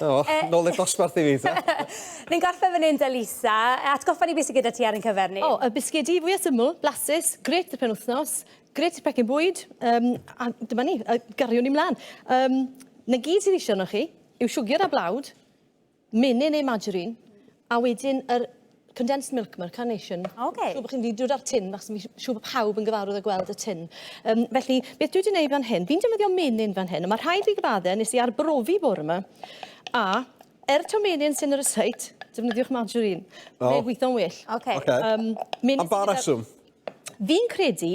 O, eh, nôl i'r dosbarth i fi, ta? Ni'n gorffen fan hyn, da Lisa. Atgoffa ni beth sydd gyda ti ar ein cyfer ni. O, y bisgedi fwy o syml, blasus, gret y penwthnos, gret y pecyn bwyd, um, a dyma ni, y gariwn ni mlaen. Um, na gyd sydd eisiau yno chi yw siwgr a blawd, menyn neu margarine, A wedyn yr condensed milk, mae'r carnation. Okay. Siw bod chi'n dod â'r tin, fach, fi'n siw bod pawb yn gyfarwydd â gweld y tin. Um, felly, beth dwi wedi gwneud fan hyn, fi'n defnyddio menyn fan hyn, a mae rhaid fi gyfadde, nes i arbrofi bore yma, a er to menyn sy'n yr ysait, defnyddiwch margarine. Oh. Mae'n gweithio'n well. Okay. okay. Um, Am ba reswm? Fi'n credu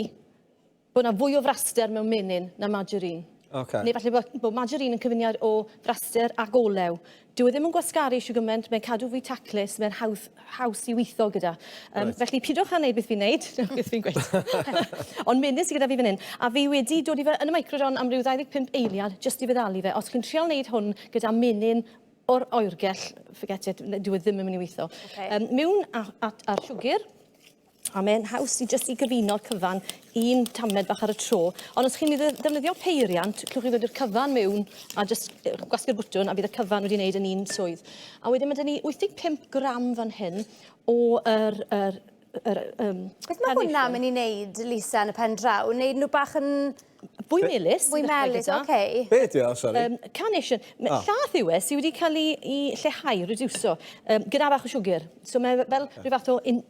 Bod yna fwy o fraster mewn menyn na margarine. Okay. Neu falle bod, bod margarine yn cyfuniad o fraster ac olew. Dyw e ddim yn gwasgaru siw gymaint, mae'n cadw fwy taclus, mae'n haws, haws i weithio gyda. Um, right. Felly pidwch â wneud beth fi'n neud, beth fi'n gweud. Ond menyn sydd gyda fi fan hyn, a fi wedi dod i fe yn y microdon am ryw 25 eiliad jyst i feddalu fe. Os chi'n trial wneud hwn gyda menyn o'r oergell, forget it, dyw e ddim yn mynd i weithio. Okay. Um, mewn at, at, ar siwgr, A mae'n haws i jyst i gyfuno cyfan un tamled bach ar y tro. Ond os chi'n mynd i ddefnyddio peiriant, clwch chi ddod i'r cyfan mewn a jyst gwasgu'r bwtwn a bydd y cyfan wedi wneud yn un swydd. A wedyn mae dyn ni 85 gram fan hyn o yr, yr, yr, um, Beth mae hwnna mynd i wneud, Lisa, yn y pen draw? Wneud nhw bach yn Bwy melus. Bwy melus, oce. Okay. Be ydi o, sori? Um, carnation. Oh. Llath yw e sydd wedi cael ei, ei lleihau, reducio, um, gyda bach o siwgr. So mae e fel rhyw fath o in,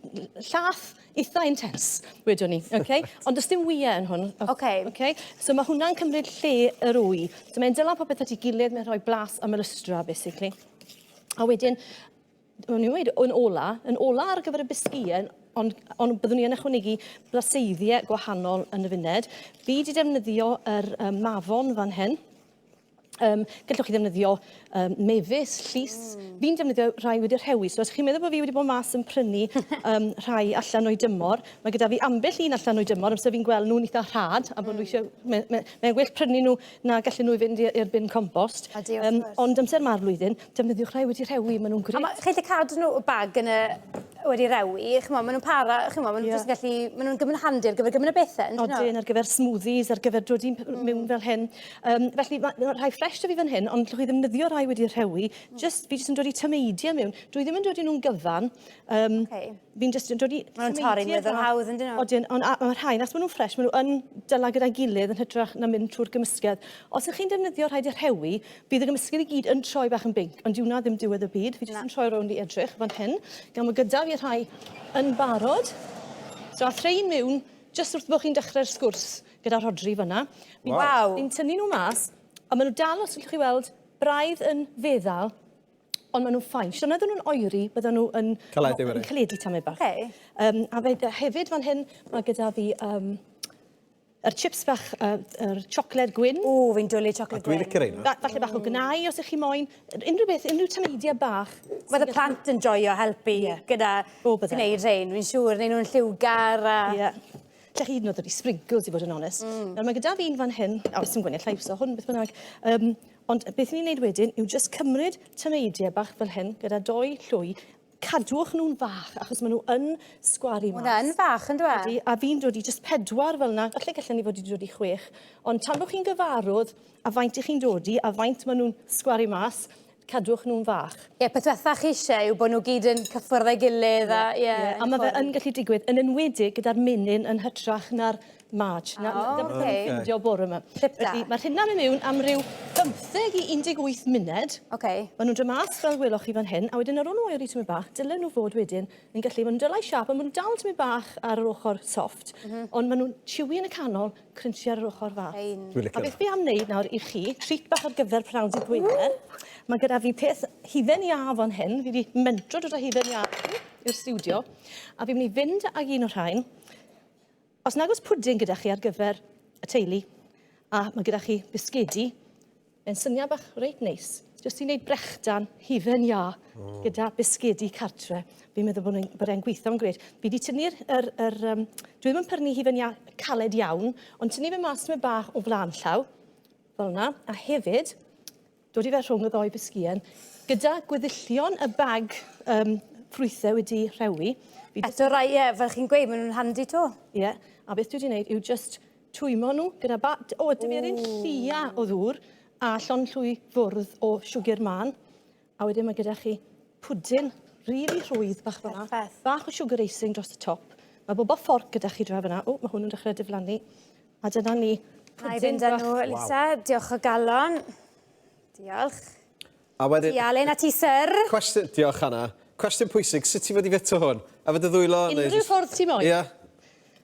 llath eitha intens, wedwn ni. Okay? Ond does dim wyau yn hwn. Oce. Okay. Okay? So mae hwnna'n cymryd lle yr wy. So mae'n dylan popeth at ei gilydd, mae'n rhoi blas am yr ystra, basically. A wedyn, o'n i'n dweud, yn ola, yn ola ar gyfer y bisgïau, ond, ond byddwn ni yn ychwanegu blaseiddiau gwahanol yn y funed. Fi wedi defnyddio yr um, mafon fan hyn. Um, gallwch chi ddefnyddio um, mefus, llus. Mm. Fi'n defnyddio rhai wedi rhewi, so os chi'n meddwl bod fi wedi bod mas yn prynu um, rhai allan o'i dymor, mae gyda fi ambell un allan o'i dymor, amser fi'n gweld nhw'n eitha rhad, a bod mm. nhw eisiau... Mae'n me, me, me gwell prynu nhw na gallu nhw i fynd i'r bin compost. Um, ond amser ma'r flwyddyn, Defnyddiwch rhai wedi rhewi, maen nhw'n gret. Mae, chi'n gallu cadw nhw y bag yn y wedi rewi, chymod, maen nhw'n para, chymod, maen nhw'n yeah. gallu, maen nhw'n gymryd handi ar gyfer gymryd y bethau. Odyn, ar gyfer smoothies, ar gyfer dod i'n mm. mewn fel hyn. Um, felly, mae ma rhai ffres da fi fan hyn, ond llwch i ddefnyddio rhai wedi rhewi. Mm. Just, fi jyst yn dod i tymeidio mewn. Dwi ddim yn dod i nhw'n gyfan. Um, okay. fi'n jyst yn dod i... Mae nhw'n torri'n weddol hawdd yn dyn nhw. Odyn, ond mae rhain, as maen nhw'n ffres, maen nhw yn dyla gyda'i gilydd yn hytrach na mynd trwy'r gymysgedd. Os ych chi'n defnyddio rhaid y rhewi, bydd y gymysgedd i gyd yn troi bach yn binc, ond diwna ddim diwedd y byd. Fi jyst yn troi rownd i edrych fan hyn, gan bod gyda fi rhai yn barod. So a threu miwn, jyst wrth bod chi'n dechrau'r sgwrs gyda Rhodri fyna. Waw! Fi'n tynnu nhw mas, ond maen nhw dal, os allwch chi weld, braidd yn feddal. Ond maen nhw'n ffain. Siwrna oedden nhw'n oeri, bydden nhw yn... Caledu wedyn. ...yn caledu tamau bach. Okay. Um, a fe, hefyd fan hyn, mae gyda fi um, yr chips bach, uh, yr siocled gwyn. O, fi'n dwlu siocled gwyn. Dwi'n licio reina. Ba falle bach o gnau, os ych chi moyn. Unrhyw beth, unrhyw tameidia bach. Mae y plant yn joio helpu yeah. gyda gwneud rhain, fi'n siŵr. Neu nhw'n lliwgar a... Yeah. Lle chi hyd yn oed wedi sprinkles, i fod yn onest. Mm. Nawr, mae gyda fi un fan hyn, o, sy'n gwneud llais o hwn, beth bynnag. Um, Ond beth ni'n neud wedyn yw jyst cymryd tameidie bach fel hyn gyda dou llwy, cadwch nhw'n fach achos maen nhw yn sgwaru mas. Hwnna yn fach yn dweud? Ydy, a fi'n dod i jyst pedwar fel yna, falle gallen ni fod wedi dod i chwech, ond tan bod chi'n gyfarwdd a faint i chi'n dod i a faint maen nhw'n sgwaru mas, cadwch nhw'n fach. Ie, yeah, peth diwetha chi eisiau yw bod nhw gyd yn cyffwrdd ei gilydd a... Ie, yeah, yeah, a mae fe yn gallu digwydd, yn enwedig gyda'r menyn yn hytrach na'r March. Na, na, dyna beth o'n i'n ffindio bore 'ma. Clip da. Felly, ma'r rheina'n myn' miwn am ryw bymtheg i un deg wyth munud. Oce. Ma' nw'n do' mas fel weloch chi fan hyn, a wedyn ar ôl n'w oeri tymed bach, dylen nhw fod wedyn yn gallu, ma' nw'n dylai siâp, a ma' nw'n dal tymed bach ar yr ochor soft. M-hm. Ond ma' nw'n chewy yn y canol, crunchy ar yr ochor fach. Fine. Dwi licio fe. A beth fi am neud nawr i chi, treat bach ar gyfer pnawn dydd Gwener. Ww! Ma' gyda fi peth hufen iâ fan hyn, fi 'di mentro dod â hufen iâ i'r stiwdio, a fi myn' i fynd ag un o rhain, Os nag oes pwdin gyda chi ar gyfer y teulu a mae gyda chi bisgedi, mae'n syniad bach reit neis. Jyst i wneud brechdan hufen iâ oh. gyda bisgedi cartre. Fi'n meddwl bod, bod e'n gweithio'n gred. Fi wedi tynnu'r... Er, er, um, dwi ddim yn prynu hufen iâ caled iawn, ond tynnu fe mas tyma bach o flaen llaw, fel yna. A hefyd, dod i fe rhwng y ddou bysgïen, gyda gweddillion y bag um, ffrwythau wedi rhewi. Eto rai, ie, fel chi'n gweud, maen nhw'n handi to. Ie, yeah. a beth dwi wedi gwneud yw just twymo nhw gyda ba... O, ydw i'r un llia o ddŵr a llon llwy fwrdd o siwgr man. A wedyn mae gyda chi pwdin rili rhwydd bach fyna. Bach o siwgr eising dros y top. Mae bobl fforc gyda chi dra fyna. O, mae hwn yn dechrau diflannu. A dyna ni. Na i fynd â nhw, Lisa. Wow. Diolch o galon. Diolch. A wedyn... Ti Alun a ti Syr. Cwestiwn, diolch Hannah. Cwestiwn pwysig, sut ti fod i fito hwn? A fy dy ddwylo? Unrhyw just... ffordd ti moyn. Ia. Yeah.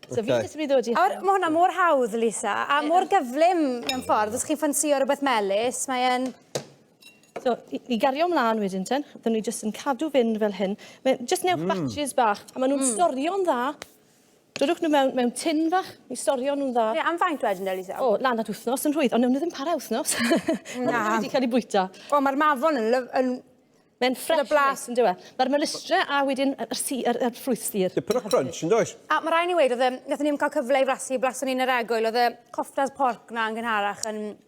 So okay. fi jyst yn mynd i ddod i... Awr, mae hwnna mor hawdd, Lisa, a mor gyflym mewn ffordd. Os chi'n ffansio rhywbeth melus, mae'n... So, i, i gario ymlaen wedyn ten, dyn ni jyst yn cadw fynd fel hyn. Mae jyst newch mm. batches bach, a maen nhw'n mm. storio'n dda Dodwch nhw mewn, mewn tin fach, i storio nhw'n dda. Ie, am faint wedyn, Elisa? O, lan at wythnos yn rhwydd, ond newn nhw ddim para wythnos. Na. Mae wedi cael ei bwyta. O, mae'r mafon yn, lyf, yn Mae'n ffres. blas yn dywe. Mae'r melistre a wedyn y, y, si, y, y ffrwyth sir. Dipyn o crunch yn does? A mae rhaid ni wedi, oedd e, nath ni ddim cael cyfle i frasu, blason ni yn yr egwyl, oedd y cofftas porc na yn gynharach yn